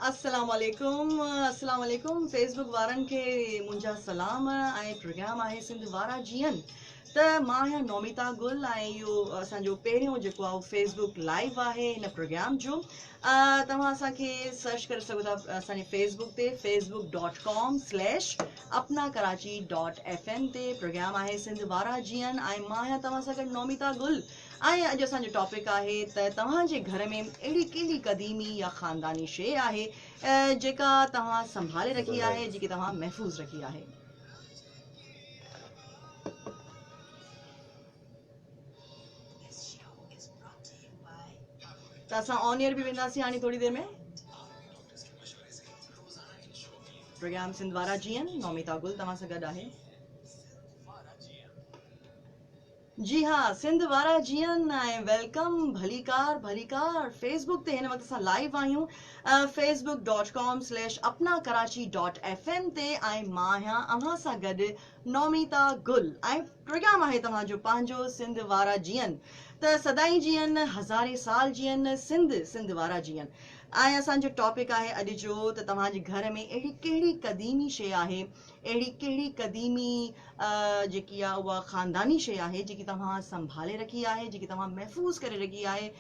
السلام عليڪم السلام عليڪم فيس بڪ وارن کي منهنجا سلام ۽ پروگرام آهي سنڌ وارا جيئن ته مان آهيان نوميتا گل ۽ اهو اسانجو پهريون جيڪو آهي فيس بڪ لائيو آهي هن پروگرام جو توهان اسانکي سرچ ڪري سگهو ٿا اسانجي فيس بڪ تي Facebook dot com slash Apna Karachi dot F M تي پروگرام آهي سنڌ وارا جيئن ۽ مان آهيان توهان سان گڏ نوميتا گل ۽ اڄ اسان جو ٽاپڪ آهي ته توهان جي گهر ۾ اهڙي ڪهڙي قديمي يا خانداني شيء آهي جيڪا توهان سنڀالي رکي آهي جيڪي توهان محفوظ رکي آهي. ته اسان آن ايئر به وينداسين هاڻي ٿوري دير ۾ پروگرام سنڌ وارا جيئن نوميتا گل توهان سان گڏ آهي جي ها سنڌ وارا جيئن ۽ ويلڪم ڀليڪار ڀليڪار فيس بڪ تي هن وقت اسان لائيو آهيون Facebook dot com slash Apna Karachi dot F M تي ۽ مان آهيان اوهان سان گڏ نوميتا گل ۽ پروگرام آهي توهان جو پنهنجو سنڌ وارا جيئن ته سدائين جيئن هزارين سال جيئن سنڌ سنڌ وارا جيئن ۽ اسان جو ٽاپڪ آهي اڄ جو ته توهان جي گهر ۾ اهڙي ڪهڙي قديمي شي آهي اهڙي ڪهڙي قديمي جيڪي آ اها خانداني شي آهي جيڪي توهان سنڀالي رکي آهي جيڪي توهان محفوظ ڪري رکي آهي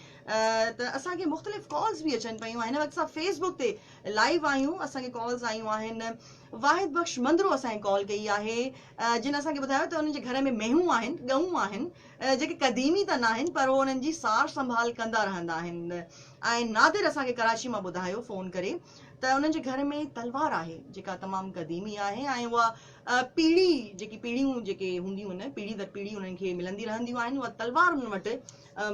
ته اسان کي مختلف ڪالز به اچن پيون هن وقت اسان فيسبوڪ تي لائيو آهيون اسان کي ڪالز آيون آهن واحد بخش مندرو اسان کي ڪال ڪئي آهي جن اسان کي ٻڌايو ته انهن جي گهر ۾ مينهون آهن ڳئون آهن جيڪي قديمي ته ناهن پر هو انهن جي سار سنڀال ڪندا رهندا آهن ۽ نادر اسان کي ڪراچي مان ٻڌايو فون ڪري ته انهن جي گهر ۾ تلوار آهي جيڪا تمام قديمي آهي ۽ اها پيڙهي جيڪي پيڙهيون جيڪي هونديون آهن پيڙهي در پيڙهي انهن کي ملندي رهنديون آهن اها تلوار انهن وٽ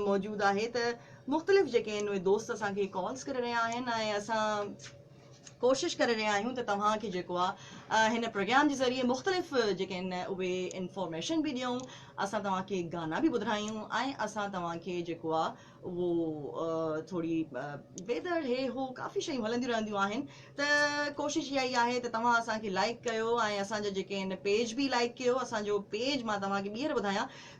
موجود آهي ته مختلف جيڪي آهن اهي دوست اسان کي ڪالز ڪري رهيا آهن ۽ اسان ڪوشش ڪري رهيا آهيون ته توهان کي جيڪو آهي هن پروگرام جي ذريعي مختلف جيڪي آهن اهي انفارميشن به ڏيون اسان توهان کي گانا به ٻڌرايون ۽ اسان توهان کي جيڪو آهي اهو ٿوري ويدر هي هو ڪافي شيون هلنديون رهنديون آهن ته ڪوشش اها ئي آهي ته توهان اسان کي لائڪ ڪيو ۽ اسان جا جيڪي آهن پيج به لائڪ ڪيو اسان جو پيج مان توهان کي ٻيهر ٻڌايان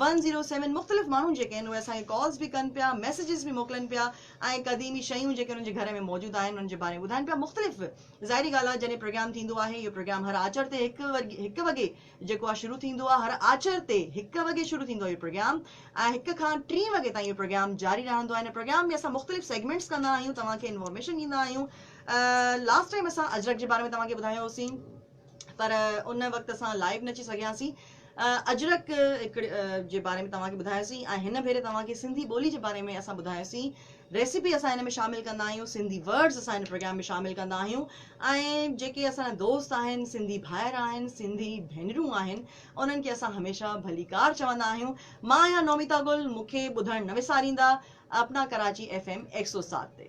ون زيرو سيون مختلف ماڻهو جيڪي آهن اهي اسان کي ڪالز به ڪن پيا ميسيجز به موڪلن پيا ۽ قديمي شيون جيڪي انهن جي گهر ۾ موجود آهن انهن جي باري ۾ ٻڌائن پيا مختلف ظاهري ڳالهه آهي جڏهن پروگرام ٿيندو آهي اهو پروگرام هر آچر تي هڪ هڪ وڳي جيڪو آهي شروع ٿيندو آهي هر آچر تي هڪ وڳي شروع ٿيندو آهي اهو پروگرام ۽ هڪ کان ٽي وڳي تائين اهو پروگرام جاري رهندو آهي ان پروگرام ۾ اسان مختلف سيگمنٽس ڪندا آهيون توهان کي انفارميشن ڏيندا آهيون لاسٽ ٽائيم اسان اجرڪ جي باري ۾ توهان کي ٻڌايو هوسين پر ان وقت اسان لائيو نه اچي سگهياسين. اجرڪ هڪڙي جي باري ۾ توهان کي ٻڌايوسين ۽ هن ڀيري توهان کي سنڌي ٻولي جي باري ۾ اسان ٻڌايوسين. ريسيپي اسان هن ۾ شامل ڪندا آهيون، سنڌي ورڊز اسان هن پروگرام ۾ شامل ڪندا آهيون ۽ جيڪي اسان جا دوست آهن، سنڌي ڀائر آهن، سنڌي ڀينرون آهن انهن کي اسان هميشه ڀليڪار چوندا آهيون. مان آهيان نوميتا گل، مون کي ٻڌڻ نه وساريندا، اپنا ڪراچي ايف ايم هڪ سؤ سات تي.